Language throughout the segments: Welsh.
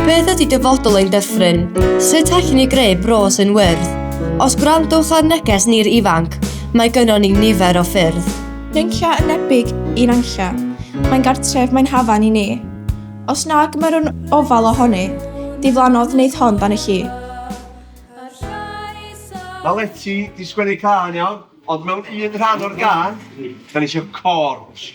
Beth ydy dyfodol ein dyffryn? Sut allwn ni greu bro sy'n wyrdd? Os gwrandwch ar neges ni'r ifanc, mae gynnon ni nifer o ffyrdd. Rinlla yn nebyg i Nantlla. Mae'n gartref, mae'n hafan i ni. Os nag mae'r un ofal ohoni, diflannodd wneith hon dan y lli. Mae Leti di sgwennu cân iawn, ond mewn un rhan o'r gân, da ni eisiau chorus.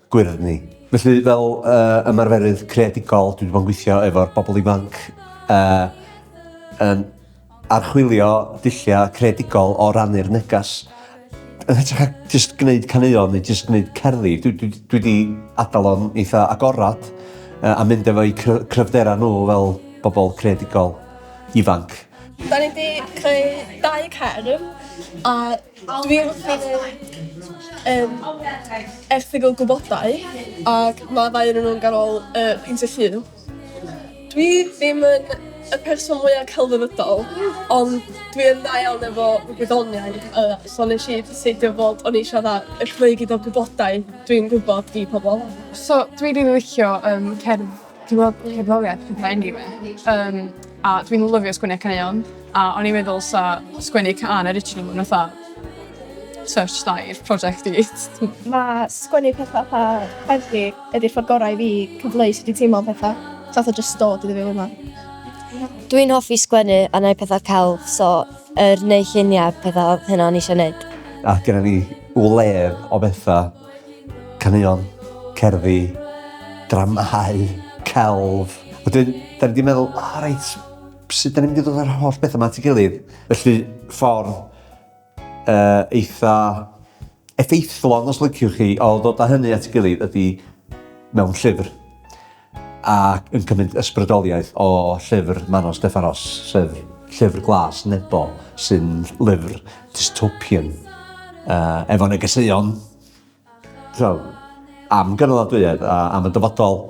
gwyrdd ni. Felly, fel uh, ymarferydd creadigol, dwi wedi bod yn gweithio efo'r bobl ifanc uh, yn archwilio dulliau creadigol o rannu'r negas. Yn hytrach ac jyst gwneud caneuon neu jyst gwneud cerddi, dwi, dwi, dwi wedi adael o'n eitha agorad uh, a mynd efo'i cryfderau nhw fel bobl creadigol ifanc. Da ni wedi creu dau cerdd a Dwi wrth fy modd efo'r erthygl gwybodau ac mae ddau ohonyn nhw'n ganol y peintio llun. Dwi ddim yn y person mwya celfyddydol ond dwi yn dda iawn efo gwyddoniaeth yy so nesh i ddecidio fod o'n i isio dda- yy rhoi gyd o gwybodaeth dwi'n gwybod i pobol. So dwi rili licio yym cerdd Dwi'n gweld cerddoriaeth yn fy engi fi, um, a dwi'n lyfio sgwennu caneuon, a o'n i'n meddwl sa sgwennu can original yn fatha touch dair prosiect i. Mae sgwennu pethau pa heddlu ydy'r ffordd gorau i fi cyfleu sydd wedi teimlo pethau, fath o just dod iddo fi fel yma. Dwi'n hoffi sgwennu a neu pethau celf, so yr neu lluniau pethau oedd hynna o'n eisiau neud. Ac gyda ni wledd o bethau Caneuon, cerddi, dramâu, celf. Wedyn, da ni wedi meddwl, o oh, reit, sut da ni'n mynd i ddod â'r holl bethau yma at ei gilydd? Felly, ffordd uh, eitha effeithlon, os lyciwch chi, o ddod â hynny at ei gilydd ydy mewn llyfr. ac yn cymryd ysbrydoliaeth o llyfr Manos Stefanos, sef Llyfr Glas Nebo, sy'n lyfr dystopian uh, efo negeseuon so, am gynaladwyedd a am y dyfodol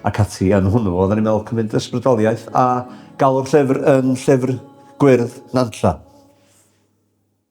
ac ati yn hwnnw. Oedden ni'n meddwl cymryd ysbrydoliaeth a galw'r llyfr yn llyfr gwyrdd Nantlla.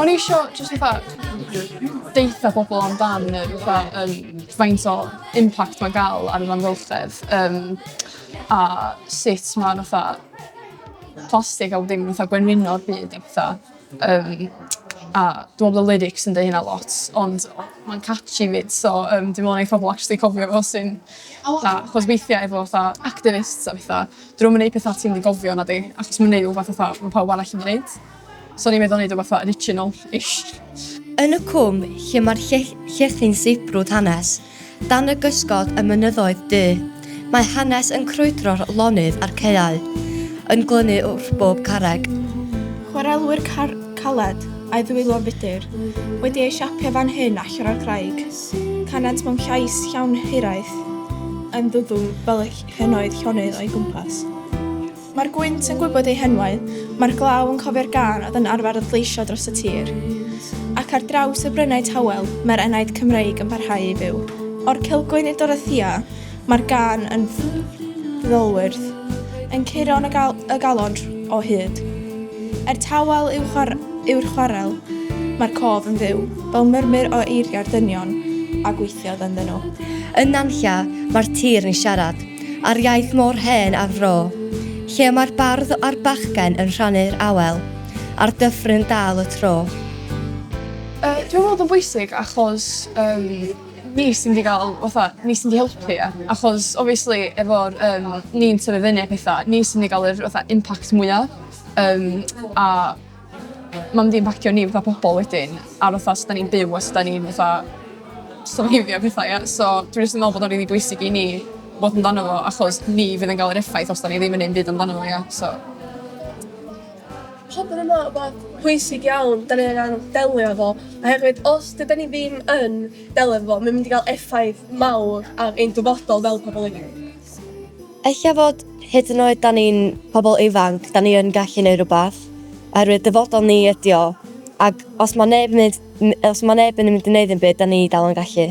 O'n i isio jyst fatha deutha pobol amdan y fatha yym faint o impact ma'n ga'l ar yr amgylchedd yym a sut ma' fatha plastig a bo' dim fatha gwenwyno'r byd a petha yym a dwi me'wl bo' lyrics yn deu' hynna lot ond ma'n catchy 'fyd so yym dwi me'wl neith pobol actually cofio fo soon a 'chos weithia' efo fatha activists a petha 'dyn nw'm yn neud petha ti'm yn gofio nadi achos ma' nw'n neud rwbath fatha ma' pawb arall yn neud. So o'n i'n meddwl neud o fatha original-ish. Yn y cwm lle mae'r llethi'n sibrwd hanes, dan y gysgod y mynyddoedd du, mae hanes yn crwydro'r lonydd a'r caeau, yn glynu wrth bob carreg. Chwarelwyr car caled, a'i ddwylo fudr, wedi eu siapio fan hyn allan o'r craig, canent mewn llais llawn hiraeth, yn ddwfwn fel y henoed llonydd o'i gwmpas. Mae'r gwynt yn gwybod eu henwau, mae'r glaw yn cofio'r gân oedd yn arfer adleisio dros y tir. Ac ar draws y brynau tawel, mae'r enaid Cymreig yn parhau i fyw. O'r Cilgwyn i'r Dorothea, mae'r gân yn ddolwyrdd, yn curo yn y, gal y galon o hyd. Er tawel yw'r chwar yw chwarel, mae'r cof yn fyw, fel murmur o eiriau'r dynion a gweithiodd ynddyn nhw. Yn Nantlla, mae'r tir yn siarad, a'r iaith mor hen a'r fro, lle mae'r bardd a'r bachgen yn rhannu'r awel, a'r dyffryn dal y tro. Yy dwi'n meddwl bod o'n bwysig achos yym ni sy'n mynd i ga'l fatha ni sy'n mynd i helpu ia? Achos obviously efo'r yym ni'n tyfu fyny a petha ni sy'n mynd i ga'l yr fatha impact mwya yym a Mae'n mynd i impactio ni fatha pobl wedyn, ar fatha sut da ni'n byw a sut da ni'n fatha surviveio pethau ia. So dwi jyst yn meddwl bod o'n rili bwysig i ni fod amdano fo achos ni fydd yn cael yr effaith os da ni ddim yn neud dim byd amdano fo ia so... Pob un yn meddwl bod pwysig iawn da ni angan delio efo oherwydd os dydan ni ddim yn delio efo fo mae'n mynd i gael effaith mawr ar ein dyfodol fel pobl ifanc. Ella fod, hyd yn oed 'da ni'n pobl ifanc, 'da ni yn gallu neud rwbath, oherwydd dyfodol ni ydi o, ac os ma' neb neud n- os ma' neb yn mynd i neud ddim byd 'da ni dal yn gallu.